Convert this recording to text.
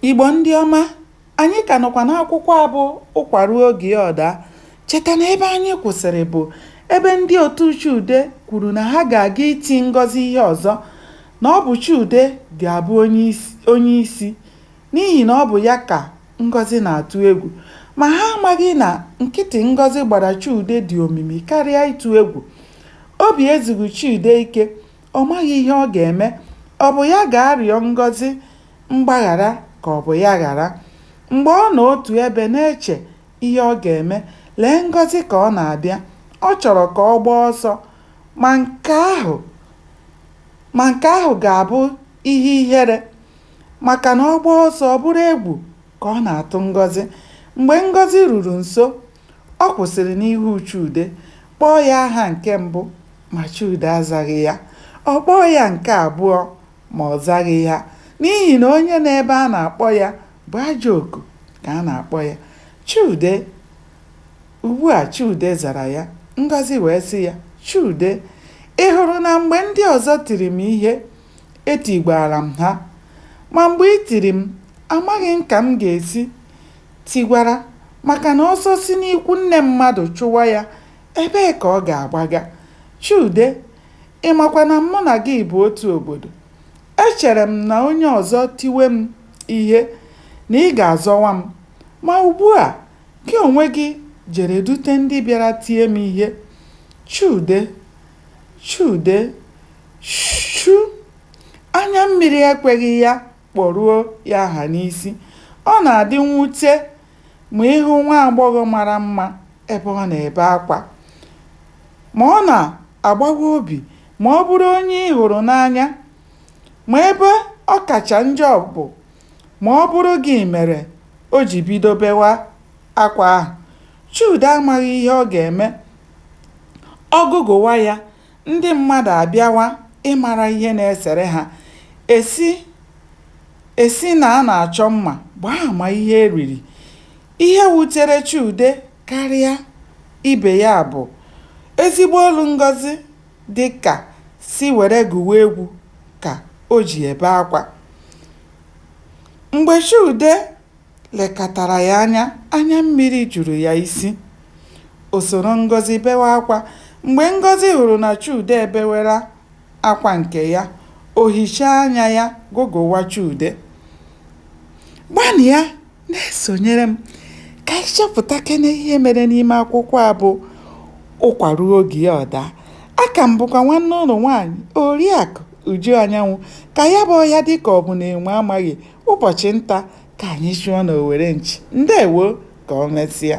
Igbo ndị ọma, anyị ka nọkwa n'akwụkwọ a bụ Ụkwa Ruo Oge Ya Ọ Daa. Cheta na ebe anyị kwụsịrị bụ ebe ndị otu Chude kwuru na ha ga-aga iti Ngọzi ihe ọzọ na ọ bụ Chude ga-abụ onye isi n'ihi na ọ bụ ya ka Ngozi na-atụ egwu. Ma ha amaghị na nkịtị Ngozi gbara Chude dị omimi karịa ịtụ egwu. Obi ezughị Chude ike Ọ maghị ihe ọ ga-eme. Ọ bụ ya ga-arịọ Ngozi mgbaghara ka ọ bụ ya ghara? Mgbe ọ nọ otu ebe na-eche ihe ọ ga-eme, lee Ngozi ka ọ na-abịa. Ọ chọrọ ka ọ gbaa ọsọ, ma nke ahụ ma nke ahụ ga-abụ ihe ihere maka na ọ gbaa ọsọ, ọ bụrụ egwu ka ọ na-atụ Ngozi. Mgbe Ngozi ruru nso, Ọ kwụsịrị n'ihu Chude, kpọọ ya aha nke mbụ ma Chude azaghị ya. Ọ kpọọ ya nke abụọ ma ọ zaghị ya n'ihi na onye nọ ebe a na-akpọ ya bụ ajọ oku ka a na-akpọ ya. Chude! Ugbu a Chude zara ya, Ngozi wee sị ya, Chude, ị hụrụ na mgbe ndị ọzọ tiri m ihe, etigwaara m ha. Ma mgbe i tiri m, amaghị m ka m ga-esi tigwara maka na ọsọ si n'ikwu nne mmadụ chụwa ya, ebee ka ọ ga-agbaga? Chude, Ị makwa na mụ na gị bụ otu obodo. Echere m na onye ọzọ tiwe m ihe, na ị ga-azọwa m. Ma ugbua, gị onwe gị jere dute ndị bịara tie m ihe. Chude, Chude, Chu! Anya mmiri ekweghị ya kpọruo ya aha n'isi. Ọ na-adị mwute ma ị hụ nwa agbọghọ mara mma ebe ọ na-ebe akwa. Ma, ọ na-agbawa obi ma ọ bụrụ onye ị hụrụ n'anya. Ma, ebe ọ kacha njọ bụ ma ọ bụrụ gị mere o ji bido bewa akwa ahụ. Chude amaghị ihe ọ ga-eme. Ọ gụgụwa ya. Ndị mmadụ abịawa ịmara ihe na-esere ha. E si e si na a na-achọ mma gbaa ama ihe e riri. Ihe wutere Chude karịa ibe ya bụ ezigbo olu Ngozi dị ka sị were gụwa egwu ka o ji ebe akwa. Mgbe Chude lekatara ya anya, anya mmiri juru ya isi. O soro Ngozi bewe akwa. Mgbe Ngozi hụrụ na Chude ebewela akwa nke ya, o hichaa anya ya gụgụwa Chude. Gbalịa na-esonyere m ka anyị chọpụtakene ihe mere n'ime akwụkwọ a bụ Ụkwa Ruo Oge Ya Ọ Daa. Aka m bụkwa nwanne unu nwaanyị Oriakụ Uju Anyanwụ. Ka ya bụ ọhịa dị ka ọ bụ na enwe amaghị ụbọchị nta ka anyị chụọ n'owere nchi. Ndewo, ka o mesịa.